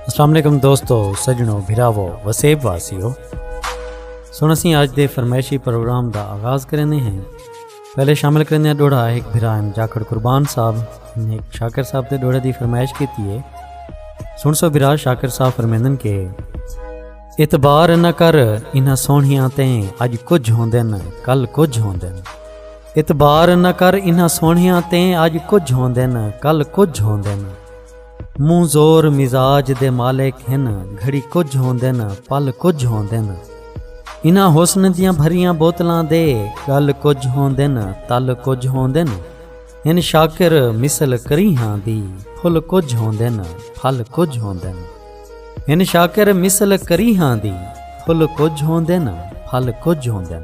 السلام علیکم دوستو سجنو بھراو وسیب واسیو سن اسی آج دے فرمائشی پروگرام دا آغاز کرنے ہیں پہلے شامل کرنے ڈوڑا ایک بھرا ایم جاکڑ قربان صاحب نے ایک شاکر صاحب دے ڈوڑا دی فرمائش کی تھی ہے سن سو بھرا شاکر صاحب فرمیندن کے اعتبار نہ کر انہاں سونیاں تیں اج کچھ ہوندن کل کچھ ہوندن اعتبار نہ کر انہاں سوہنیاں تیں اج کجھ ہوندن کل کجھ ہوندن منہ زور مزاج دے مالک ہن گھڑی کجھ ہوندن پل کجھ ہوندن انہاں حسن دیاں بھریاں بوتلاں دے گل کجھ ہوندن تل کجھ ہوندن ہن شاکر مثل کریہاں دی پھل کجھ ہوندن پھل کجھ ہوندن ہن شاکر مثل کریہاں دی پھل کجھ ہوندن پھل کجھ ہوندن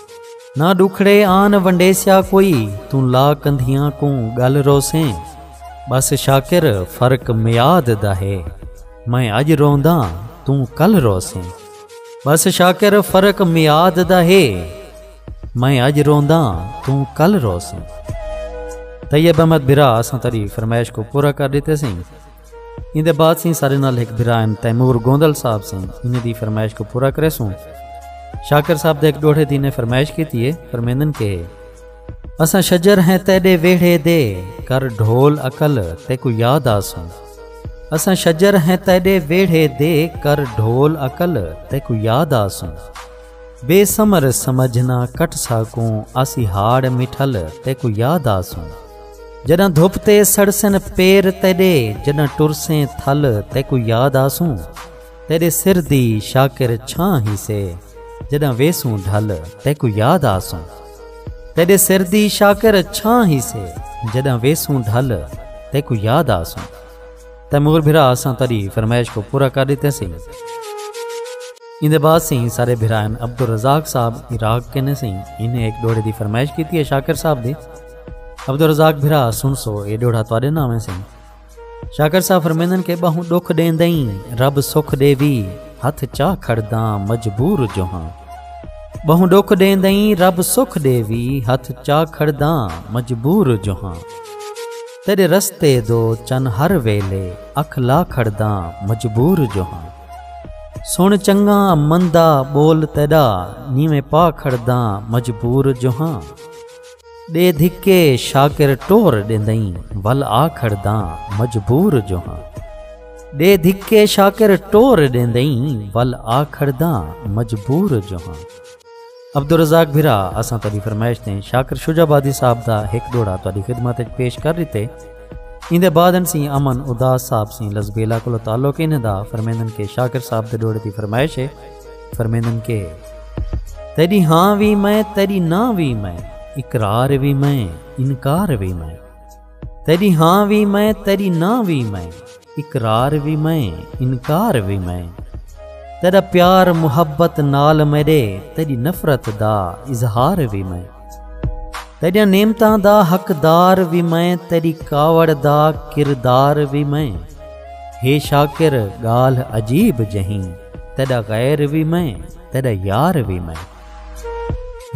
نہ ڈکھڑے آن ونڈیسیا کوئی توں لا کندھیاں کوں گل روسیں بس شاکر فرق میاد دا ہے میں اج رونداں توں کل روسیں بس شاکر فرق میاد دا ہے میں اج رونداں توں کل روسیں طیب احمد برا اساں تیری فرمائش کو پورا کر دیتے سیں ایں دے بعد سیں سارے نال ہک بھرا ایم تیمور گوندل صاحب سیں انہیں دی فرمائش کو پورا کرے سوں شاکر صاحب دے ایک ڈوڑھے دی نے فرمائش کی تیے فرمیندن کے اساں شجر ہیں تیڈے ویڑھے دے کر ڈھول اکل تے کو یاد آسوں اساں شجر ہیں تیڈے ویڑھے دے کر ڈھول اکل تے کو یاد آسوں بے سمر سمجھنا کٹ ساکوں آسی ہاڑ مٹھل تے کو یاد آسوں جݙاں دھپ تے سڑسن پیر تیݙے جݙاں ٹرسیں تھل تیکوں یاد آسوں تیݙے سر دی شاکر چھاں ہیسے جݙاں ویسوں ڈھل تیکوں یاد آسوں تیݙے سر دی شاکر چھاں ہیسے جݙاں ویسوں ڈھل تیکوں یاد آسوں تیمور بھرا اساں تیݙی فرمائش کو پورا کر ݙتے سی ایندے بعد سی سارے بھرائن عبدالرزاق صاحب عراق کنے سی انہیں ایک ڈوڑے دی فرمائش کیتی ہے شاکر صاحب دی عبدالرزاق بھرا سن سو اے ڈوڑا تواڈے نہ آویں سن شاکر صاحب فرمیندن کہ بہوں دکھ دین دئیں رب سکھ دے وی ہتھ چاہ کھڑ داں مجبور جو ہاں بہوں دکھ دین دئیں رب سکھ دے وی ہتھ چاہ کھڑ داں مجبور جو ہاں تیرے رستے دو چن ہر ویلے اکھ لا کھڑ داں مجبور جو ہاں سن چنگا مندا بول تیڈا نیویں پا کھڑ داں مجبور جو ہاں ݙے دھکے شاکر ٹور ݙیندئیں ول آ کھڑداں مجبور جو ہاں ݙے دھکے شاکر ٹور ݙیندئیں ول آ کھڑداں مجبور جو ہاں عبدالرزاق بھرا اساں تہاڈی فرمائش تے شاکر شجاع آبادی صاحب دا ہک ڈوڑا تہاڈی خدمت وچ پیش کر ڈتے ایندے بعد ان سی امن اداس صاحب سی لزبیلا کولو تعلق انہاں دا فرمیندن کہ شاکر صاحب دے ڈوڑے دی فرمائش ہے فرمیندن کہ تیڈی ہاں وی میں تیڈی نہ وی میں اقرار وی میں انکار وی میں تیڈی ہاں وی میں تیڈی نہ وی میں اقرار وی میں انکار وی میں تیڈا پیار محبت نال میڈے تیڈی نفرت دا اظہار وی میں تیریا نعمتاں دا حقدار وی میں تیری کاوڑ دا کردار وی میں ہے شاکر گال عجیب جہیں تیرا غیر وی میں تیرا یار وی میں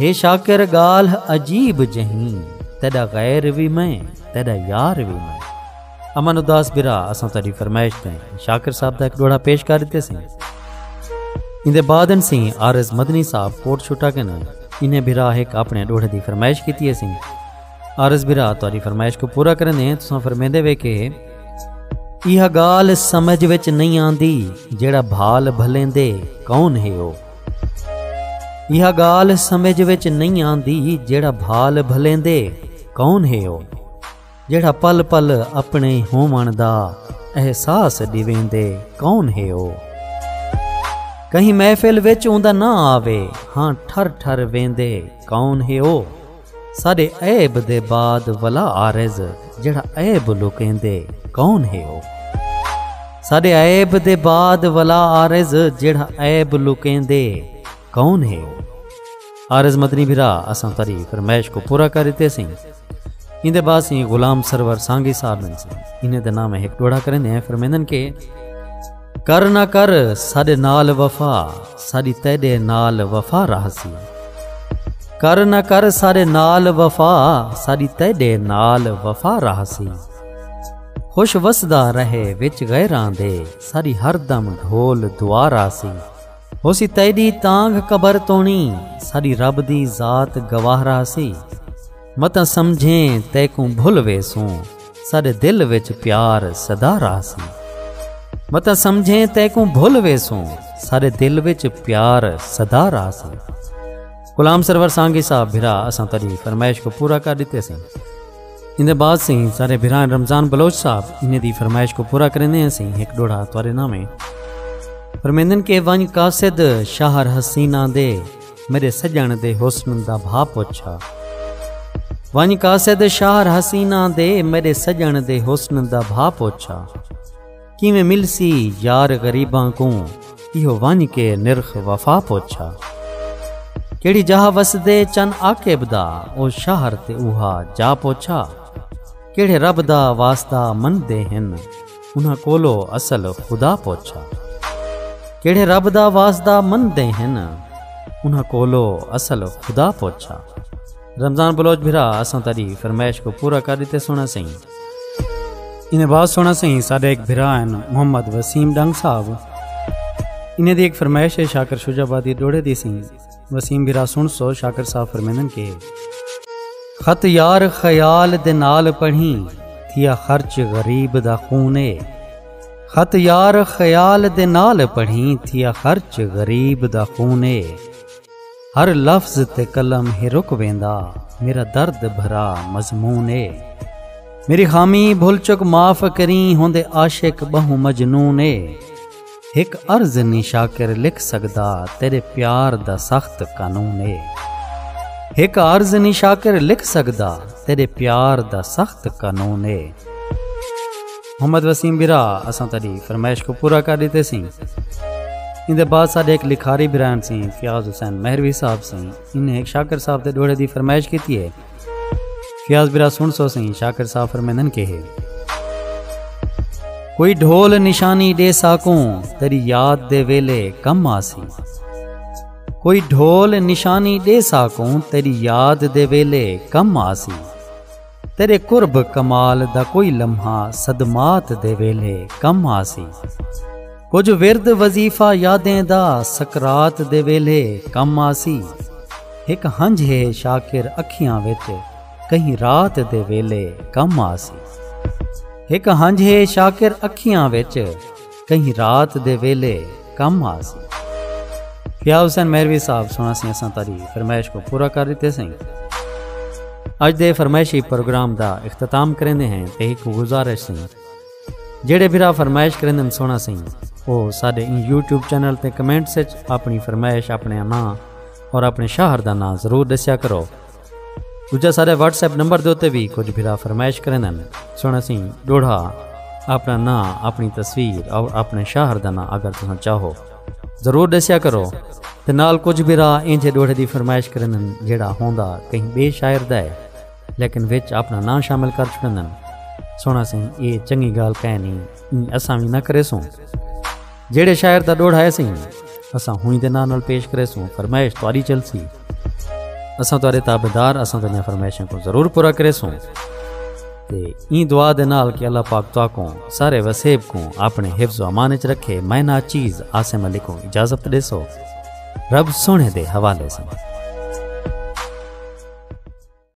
ہے شاکر گال عجیب جہیں تیرا غیر وی میں تیرا یار وی میں امن اداس برا اساں تیری فرمائش تے شاکر صاحب دا ایک ڈوڑا پیش کر دیتے سیں ان دے بعد ان سی آر ایس مدنی صاحب کوٹ چھٹا کے نہ انہیں برا ایک اپنے ڈوڑے دی فرمائش کیتی ہے سیں آر ایس برا تیری فرمائش کو پورا کرن دیں تساں فرمیندے وے کہ یہ گال سمجھ وچ نہیں آندی جیڑا بھال بھلیندے کون ہے او یہ گال سمجھ وچ نہیں آندی جیڑا بھال بھلیندے کون ہے او جیڑھا پل پل اپݨے ہووݨ دا احساس ݙیویندے کون ہے او کہیں محفل وچ اوندا نہ آوے ہاں ٹھر ٹھر ویندے کون ہے او ساڈے عیب دے بعد ولا عارض جیڑھا عیب لکیندے کون ہے او ساڈے عیب دے بعد ولا عارض جیڑھا عیب لکیندے کون ہے او عارض مدنی بھرا اساں تری فرمائش کو پورا کر اتیں سیں اندے بعد سیں غلام سرور سانگی صاحب نے سیں انہیں دے نام ایک ڈوڑا کریں دے ہیں فرمیندن کے کر نہ کر ساڑے نال وفا ساڑی تیڑے نال وفا رہ سی کر نہ کر ساڑے نال وفا ساڑی تیڑے نال وفا رہ سی خوش وسدا رہے وچ غیران دے ساڑی ہر دم ڈھول دعا رہ سی ہوسی تیڈی تانگھ قبر تونی ساڈی رب دی ذات گواہ راہسی متاں سمجھیں تیکوں بھل ویسوں ساڈے دل وچ پیار سدا راہسی متاں سمجھیں تیکوں بھل ویسوں ساڈے دل وچ پیار سدا راہسی غلام سرور سانگی صاحب بھرا اساں تیری فرمائش کو پورا کر دیتے سن ان دے بعد سیں سارے بھرائیں رمضان بلوچ صاحب انہیں دی فرمائش کو پورا کرنے ہیں سیں ایک ڈوڑا توارے نامے فرمیندن کے ونج قاصد شہر حسینہ دے میرے سجن دے حسن دا بھا پوچھا ونج قاصد شہر حسینہ دے میرے سجن دے حسن دا بھا پوچھا کیویں ملسی یار غریباں کوں ایہو ونج کے نرخ وفا پوچھا کیڑی جاہ وسدے چن عاقب دا او شہر تے اوہا جا پوچھا کیڑے رب دا واسطہ مندے ہن انہاں کولو اصل خدا پوچھا کیڑے رب دا واسطہ مندے ہن انہاں کولو اصل خدا پوچھا رمضان بلوچ بھرا اساں تاری فرمائش کو پورا کر دیتے سونا سہی انہیں بہت سونا سہی سارے ایک بھرا ہیں محمد وسیم ڈنگ صاحب انہیں دی ایک فرمائش ہے شاکر شجا بادی ڈوڑے دی سہی وسیم بھرا سن سو شاکر صاحب فرمینن کے خط یار خیال دے نال پڑھی تھیا خرچ غریب دا خونے خط یار خیال دے نال پڑھی تھیا خرچ غریب دا خونے ہر لفظ تے قلم ہی رک ویندا میرا درد بھرا مضمون اے میری خامی بھل چک معاف کریں ہوندے عاشق بہوں مجنون اے ہک عرض نی شاکر لکھ سگدا تیرے پیار دا سخت قانون اے ہک عرض نی شاکر لکھ سگدا تیرے پیار دا سخت قانون اے۔ محمد وسیم برا اساں تیڈی فرمائش کوں پورا کر ڈتے سیں ایندے بعد ساڈے ایک لکھاری برائن سیں فیاض حسین مہروی صاحب سیں انہیں ایک شاکر صاحب دے ڈوڑے دی فرمائش کیتی ہے فیاض برا سن سو سیں شاکر صاحب فرمیندن کے ہے کوئی ڈھول نشانی دے ساکوں تیری یاد دے ویلے کم آسی کوئی ڈھول نشانی دے ساکوں تیری یاد دے ویلے کم آسی تیرے قرب کمال دا کوئی لمحہ صدمات دے ویلھے کم آسی کجھ ورد وظیفہ یادیں دا سکرات دے ویلھے کم آسی ہک ہنجھ ہے شاکر اکھیاں وچ کہیں رات دے ویلھے کم آسی ہک ہنجھ ہے شاکر اکھیاں وچ کہیں رات دے ویلے کم آ سی فیا حسین میروی صاحب سنا سی اساں تاری فرمائش کو پورا کر دیتے سائیں اج دے فرمائشی پروگرام دا اختتام کریندے ہیں تے ایک گزارش سن جڑے بھرا فرمائش کریندن سونا سن او ساڈے ان یوٹیوب چینل تے کمنٹس وچ اپنی فرمائش اپنے نام اور اپنے شہر دا نام ضرور دسیا کرو دوجا سارے واٹس ایپ نمبر دے اتنے بھی کچھ بھرا فرمائش کریں سن اسی ڈوڑھا اپنا ناں اپنی تصویر اور اپنے شہر کا ناں اگر تم چاہو ضرور دسیا کرو تو نال کچھ بھرا انجے ڈوڑھے کی فرمائش کریں جڑا ہوں کہیں بے شاعر دا ہے لیکن وچ اپنا ناں شامل کر چکے سونا سی یہ چنگی گال کہ نہیں اساں بھی نہ کرے سوں جہے شاعر کا ڈوڑھا ہے سی اساں ہوئی دے ناں پیش کرے سوں فرمائش تاری چلسی اساں تہاڈے تابعدار اساں تہاڈیاں فرمائشاں کو ضرور پورا کرے سوں تے این دعا دے نال کہ اللہ پاک تو کو سارے وسیب کو اپنے حفظ و امان وچ رکھے میں نا چیز عاصم علی کو اجازت دے سو رب سونے دے حوالے سے